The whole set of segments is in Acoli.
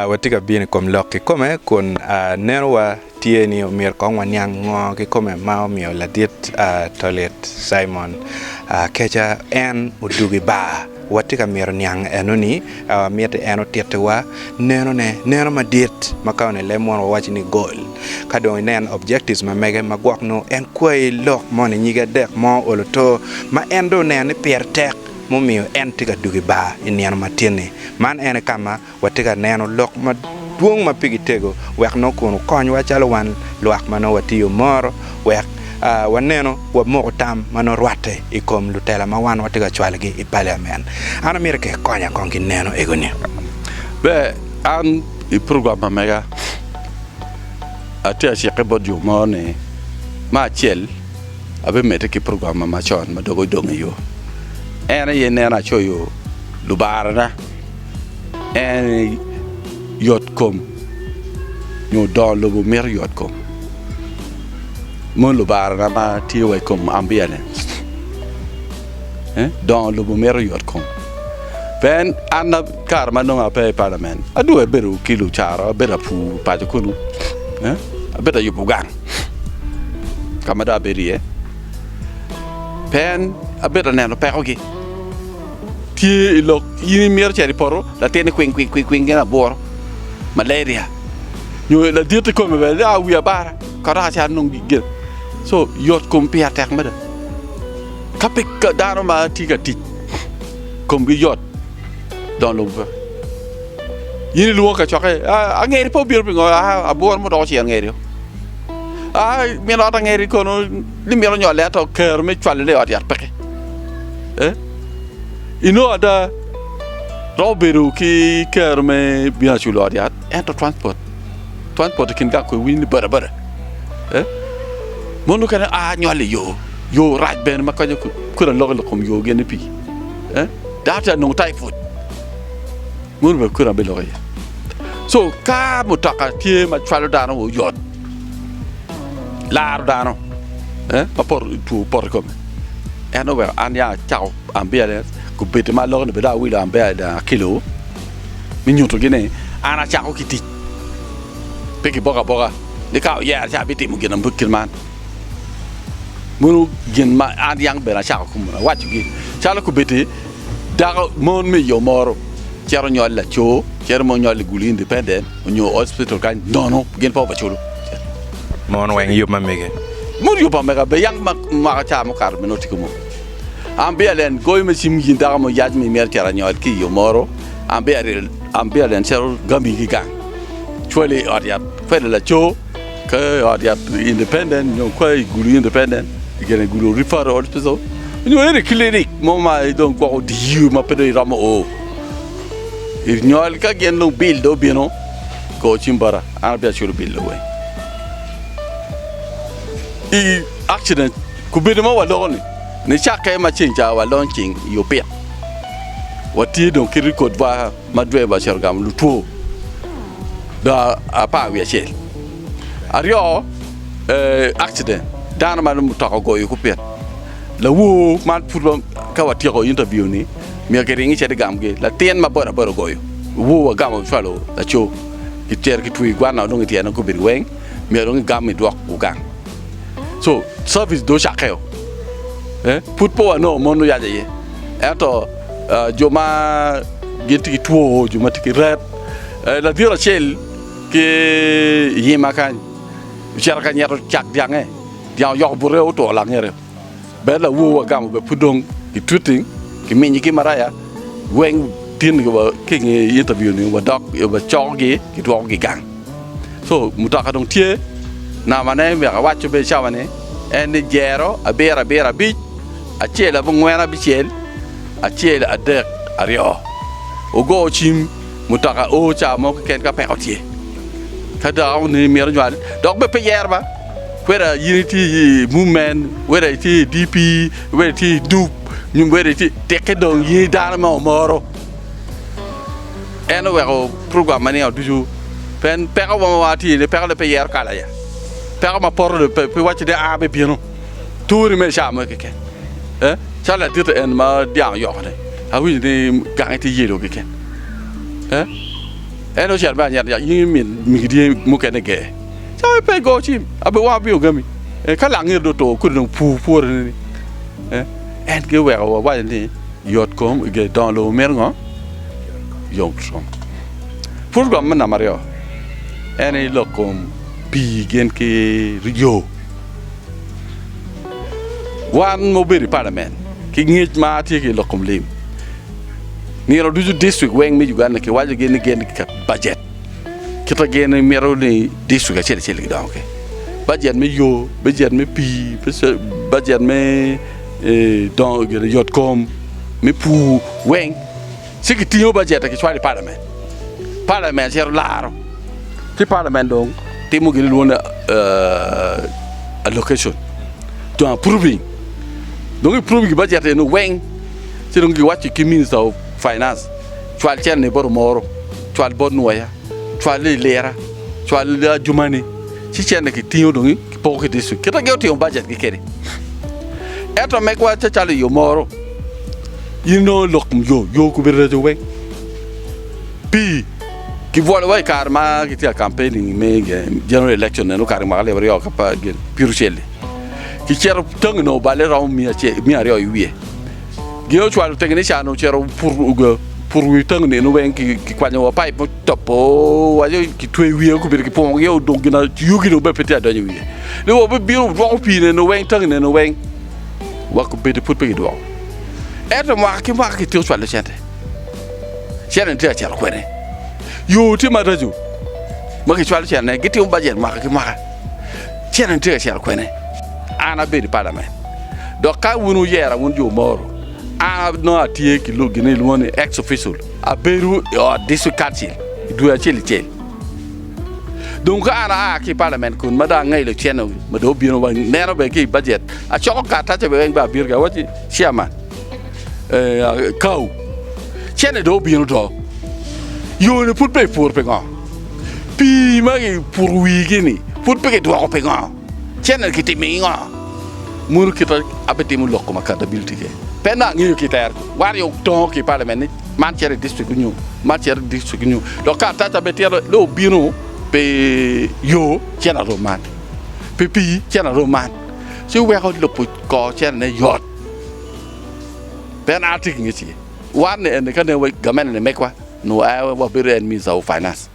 Watye ka bino i kom lok kikome kun neno wa tye ni omyero kong waniang ngo kikome ma omiyo ladit tolit Cimon keca en odugo i bar. Watye ka myero niang eno ni miti en otiti wa neno ne neno madit ma ka one leb mono wawaco ni gol ka dong inen objectives ma mege magwok nongo en kwayi lok moni nyige adek mo olo to ma en dong oneno ni pire tek mumiyo en tye ka dwogo i bar i nino matin-ni. Man en aye ka ma watye ka neno lok madwong ma pigi tego wek nongo kun okonywa calo wan lwak ma nongo watiyo moro wek wanenu wamoko tam ma nongo rwatte i kom lutela ma wan watye ka cwalogi i Paliamen. An amito ka ikonya kong ki neno ego-ni. Ber, an i program ma mega atye ka cikke bot jo mo ni, me acel, Abimedde ki program ma macon ma dok odong i yo. En aye neno acoyo lubarana, en aye yotkom nyo dongo lobo mito yotkom. Moni lubarana ma tye wa i kom ambulance. Dongo lobo mito yotkom. Pe en, an kare ma nongo ape i parliament, adwogo abedo ki lucara, abedo apur paco kunu. Abedo ayubo gang ka ma dong abedo iye pien abedo aneno pekogi. Tye i lok in imito cito i poto latinni kwing kwing kwing kwing gin abworo, malaria nyo laditi kome bene dong awi abara ka dok acito anong gin gin. So yot kom piya tek mada. Ka pe dano ma tye ka tic komgi yot Dong lubbe pe. In ilwongo kacokke, "Ah, angeri pe obino pingo, ah, abwor mo dok ocito angeri o. Ah, min ot angeri kono ni mito nyolle ato kero me cwalone i ot yat peke. Eh? Inongo ada romo bedo ki kero me bino aculo ot yat, ento transport, transport i kin gang kwe winy ni bada bada. Eh? Mon mukene a nyolle i yo, yo rac bene ma konyo ku- kuda loko i kom yo gin ni pi. eh dako tye ka nongo taiput mono bene kwena biloko iye so ka mutoka tye ma cwalo dano wa oyot laro dano eh ma poto two poto i kome en oweko an ya acako ambulance gubedo ma lok ni bene dong awilo ambulance akelo me nyutogi ni an acako ki tic pe kiboka aboka ni ka oyer ci abitimo gin man. Meno gin ma an yam bene acako awacogi, calo kobeddi dako, mon me yo moro cito nyol laco, cito mono nyol i gulu, independent, onyo hospital kany nono, gin pe obeculo. Mon weng yub ma mege? Mon yub ma mega be yam maka ca mukato bene otiko mo. An biya len goyo me cim in dako mo yac ma imito cito anyol ki i yo moro, an biya len cito gami ki gang, cwali i ot yat, fede laco. Ka i ot yat independent nyo ka i gulu independent, i gene gulu referral hospital, nyo ene clinic mo ma dong gwoko odiyi ma pe dong iromo o. I nyol ka gin dong bill dong obino, go cim bota an abia culo bill dong weng. I accident kubedo ma waloko ni, nicakke ma ceng ca walony ceng i opit, watye dong ki record wa. ma dwe ma ocito gamo lutwo doki apar wiye acel. Aryo accident dano ma mutoka ogoyo ku pit lawor man pud ka watyeko interview ni myero ki ring icit igam gi latin ma boda boda ogoyo wor wagamo cwalo laco ki cito ki twir gwana dong ityene dong gubedo weng myero dong igam idwok gang so service dong ocakke o pud pe wanongo mon oyac aye ento Jo ma gin tye ki two, jo ma tye ki rep, ladit acel ki i nyima kany ocito ka nyeto cak dyange, dyang oyoko bute otwo langete. Bene lawowa ogamo bene pud dong ki twitting, ki minyi ki maraya weng tin ni wa ki i nge interview ni wadok wacokogi ki dwokogi gang. So mutoka dong tye nama ne myeka awaco be cawa ni en ni jero abiro abiro abic acel abongwen abicel acel adek aryo ogo cim mutoka o cawa mo keken ka peko tye ka dako ni miro nywal dok be pe yer ba wera yini ti mum men wera ti DP wera ti dup nyum wera ti teke dong yini dano mo moro. En oweko program ma niang ducu pien peko mo ma wang atye iye-ni peko ne pe yero kala aye. Peko ma poto ne pe pe wacci ni aa me bino turi me ca mo keken. Eh, cal laditi en ma dyang oyoko-ni, awinyo ni gange tye yelo keken. Eh, en ocito me anyet nyaka in min migi dye mukene ger. Ca in pe igo cim, abi wang abino gami. Eh, ka langir dong oto kodi dong pur pwore-ni ni. Eh, en kong oweko wawaco ni. yot kom i ge dongo lobo mito ngo? Yom kom. Pud rwom me namba aryo en i lok kom pi gin ki yo. Wan mo bedo i palamen ki ngec ma tye ki lok kom lim. Nino ducu district weng me Uganda ki wajo gin ni gin ki ket budget. Kita gin ni mito ni district acel acel gidongo ki budget me yo, budget me pi, budget me Dongo gire yot kom me pur weng ci ki tingo bajete ki cwalo i palament, palament cito laro ci palament dong timo gin lwongo ni allocation to approving dong i prove gi bajete eno weng ci dong gi waco ki minister of finance cwal cen ni bot omoro cwal bot nwoya cwal lilira cwal ajumani ci cen ni ki tingo dong Poko ki district kit ma gin otimo bajet gi kede. Ento megwa ce calo yo moro in nongo lok yo yo kubi reco weng pi ki bwolo wa i kare ma ki tye campaigning me general election nen okare mwaka alip aryo kapa gin piero cel ki cito tangi nongo bale romo mia aryo i wiye. Gin ocwalo tenge ni ca ni ocito puto wi tangi nino weng ki kwanyo wa pipe mo topo waco ki twe wiye ku bino ki pungo gi odong gina yugi no bebe pe tye adonyo wiye ni wa bebe bino dwoko pi nino weng tangi nino weng wa ku bedi pud pe ki dwoko ento mwaka ki mwaka ki tye ocwalo cente cente ni tye acito kwene yo tye maraco ma ki cwalo cente ne gitimo bajet mwaka ki mwaka Cene-ni tye ka cito kwene? An abedo i palament, dok ka wun wuyera, wun jo moro, an nongo atye ki gin ma kilwongo ni ex official, abedo i ot district council i dwe acel icel. Dong ka an aa ki i palament kun ma dong angelo cene ma dong obino wa neno bene ki i bajet, acoko karatace bene weng bene abito ki awacci, Chairman, eh, kawu, cene dong obino do, yone pud pe ipuro pingo? Pii ma kiputo wigi-ni pud pe kidwoko pingo? Cene kitimo i ngo? Munu kite abitimo lok kom accountability ke? Pe nongo angeyo ki iter gi. Wario tongo ki parliament ni man cito i district onyo man cito i district onyo dok karatac abe tyero dong obino pi yo cene arom man, pi pii cene arom man. Ci weko lobo kor cene ne yot. Pe an atye ki ngec iye. Wan ni eni ka neno wa gamenane megwa. Nongo aye wabedo en Minista of Finance.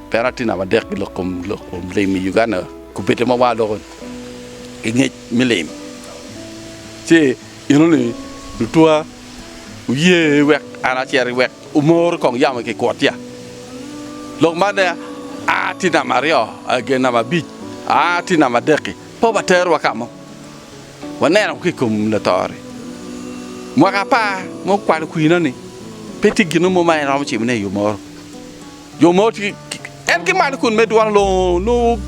Pien atye namba adek ki lok kom lok kom lim i Uganda kubedde ma wa loko ki ngec me lim. Ci ineno ni lutwa wuye wek an acer wek wumor kong yam i kikwot ya. Lok man ne a tye namba aryo, aa gen namba abic, aa tye namba adek-ki, pe waterowa ka mo. Waneno ki i kom lator-ri mwaka apar ma okwalo kwina-ni, pe tye gin mo ma en romo timone i yo moro. Jo mogo tye ki, en ki malo kun medo dwaro longo nongo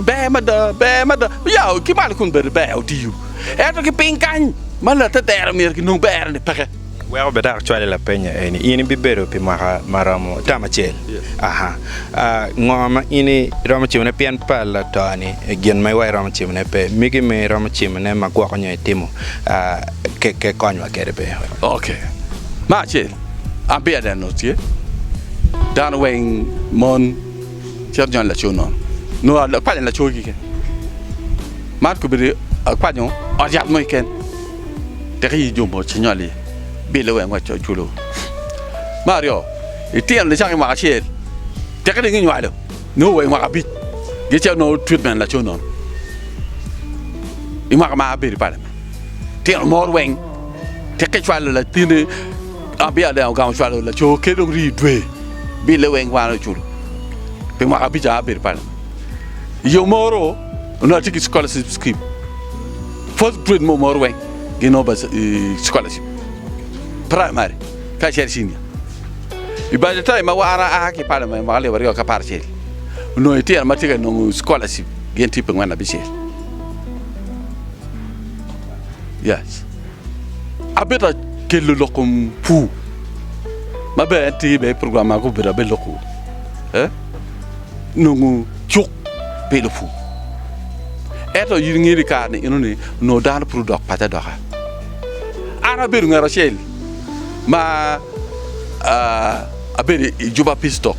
ber mada, ber mada. Ya, ki malo kun bedo ber otiyo, ento ki piny kany ma latedero myero kinong berre-ni peke. Wek obed dok acwali lapenya eni, in ibibedo pi mwaka ma romo tam acel? Aha. Ngo ma in iromo cimone pien pa latoni? Gin ma iwa iromo cimone pe. Migi ma iromo cimone ma gwoko nyo itimo ke konywa kede pe. Ok. Ma acel, an pe aneno tye dano weng mon cito jony laco nono. Nongo akwanyo laco keken. Man kobedo akwanyo ot yat mo keken. Tek iyi jumbo cinywalli bille wek ngwec coc kulu. Me aryo, itino nicako i mwaka acel, tek dong inywalo nio wa i mwaka abic gi ce onongo treatment laco nono. I mwaka ma abedo i palamen, tino mo rweny tek icwalo latini abia deng ogamo cwalo laco ke dong rii dwe bille weng wan oculo pi mwaka abic abedo i palamen. Iyo moro onongo atye ki scholarship scheme. Fourth grade mo mor weng gin o bas i scholarship. Primary ka cel senior. I by the time ma war a ki pala me mwaka lib aryo ka par cel. No i tira ma tika nongo scholarship gin tipe ngwen abi cel. Yes. Abita kelo lokum pu. Ma be en tibe program ma ko bita be loku. Eh? Nongo cuk. pi lupur. Ento in ingeyo ni kare-ni eno ni onongo dano pud odok paco adoka. An abedo ngat acel ma abedo i juba Pisto.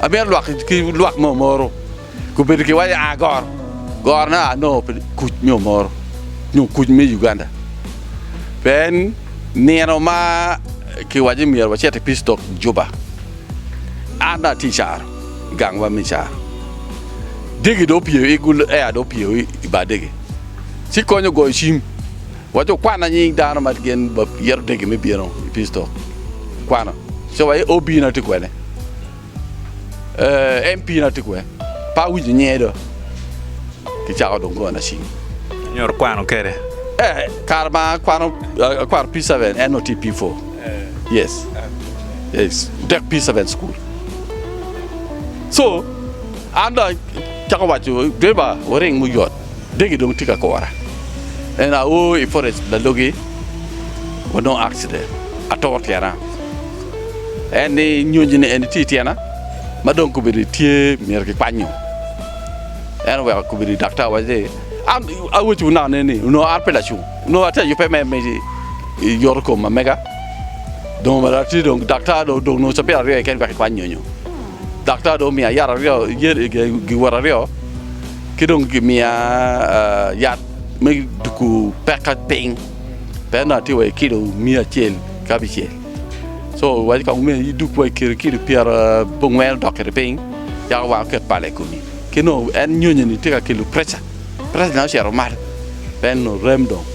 Amito lwak ki lwak mo moro gubedo ki waco a goro. Gorone a nongo pi kuc nyo moro nyo kuc me Uganda. Pien nino ma kiwaco ni myero wacit i Pisto juba, an dong atye i caro. i gangwa me caro. Dege dong opyeyo i gul air dong opyeyo i bar dege ci konyo goyo cim waco okwana nying dano ma gin yero dege me bino i pistol kwano ci waye OB na tye kwene eh, MP na tye kwe pe awinyo nyinge do ki cako dong gona cim. Inyuto kwano kede? Eh, kare ma akwano akwano P7 en nongo tye P4. Yes. Yes. Tek pi seven school. So, an da chako wacho, driver waring muyot. Degi dong tye ka kora. En a o i forest lalogi, wanongo accident. Atoro tyena. En ni nyonyo ni en tye i tyena, ma dong kobedi tye myero kikwanyo. En oweko kobedi daktar waco ni, an awaco naka ne ni, onongo an pe lacung. Nongo atye ka yubbe me yoto kom ma mega, dong omedde atye dong daktar dong odong nongo cabit aryo keken wek ekwan nyonyo. Daktar dong omiya yat aryo, giwot aryo ki dong gimiya yat me duko pekka piny pien dong atye wa i kilo miya acel ki abicel. Co iwaco kong omyero idug wa i kilo pyerabongwen odok kwede piny yaka wango oket pala i komi. Ki dong en nyonyo-ni tye ka kelo preca. Presence na ocito malo en onongo rem dong.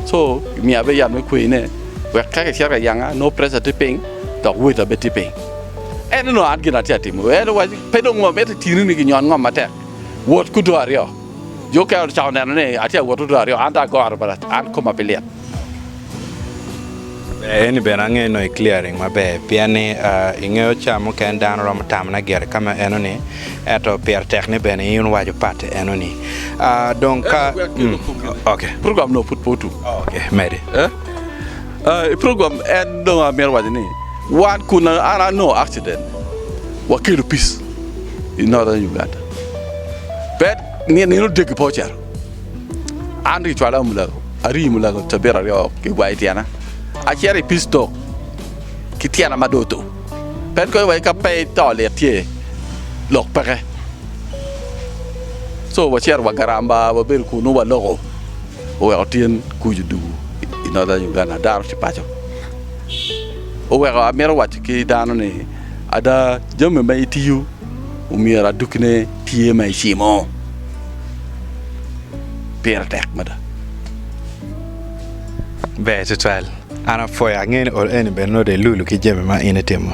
So gimiyo abe yat me kweyi ne wek ka kicito ka yanga nongo pressure tye piny dok weight na bene tye piny. En onongo an gin atye atimo en owaco pe dong ngo miti tini ni ginyon ngom matek wot ki odo aryo. Jo okene ocako neno ni atye awot odo aryo an dong agoro bene an koma pe lit. Ber eni bene angeyo nongo i clearing maber pien ni ingeyo caa mukene dano romo tamone gire kama enoni ento pire tek ni bene in iwaco pati enoni aa dong ka ok program no pud pe otum ok mede i program en dong amito waco ni wan kun an anongo accident wakelo peace i northern Uganda pe nino degi pe ocito. An rii cwala mulago, arii mulago cabit aryo ki gwayo tyena, acito i pistok ki tyena ma dong otur. Pe ikoyo wai ka pe to lit tye lok peke. So wacito wa Garamba wabedo kunu waloko oweko tyen kucu dugu i Northern Uganda ada aruti paco. Oweko amito waco ki dano ni ada jami ma itiyo omyero adukine. Tye ma icimo? Pire tek mada. Ber tutwal. An apwoyo, angeyo ni ol eni bene nongo dong ilulu ki jami ma in itimo.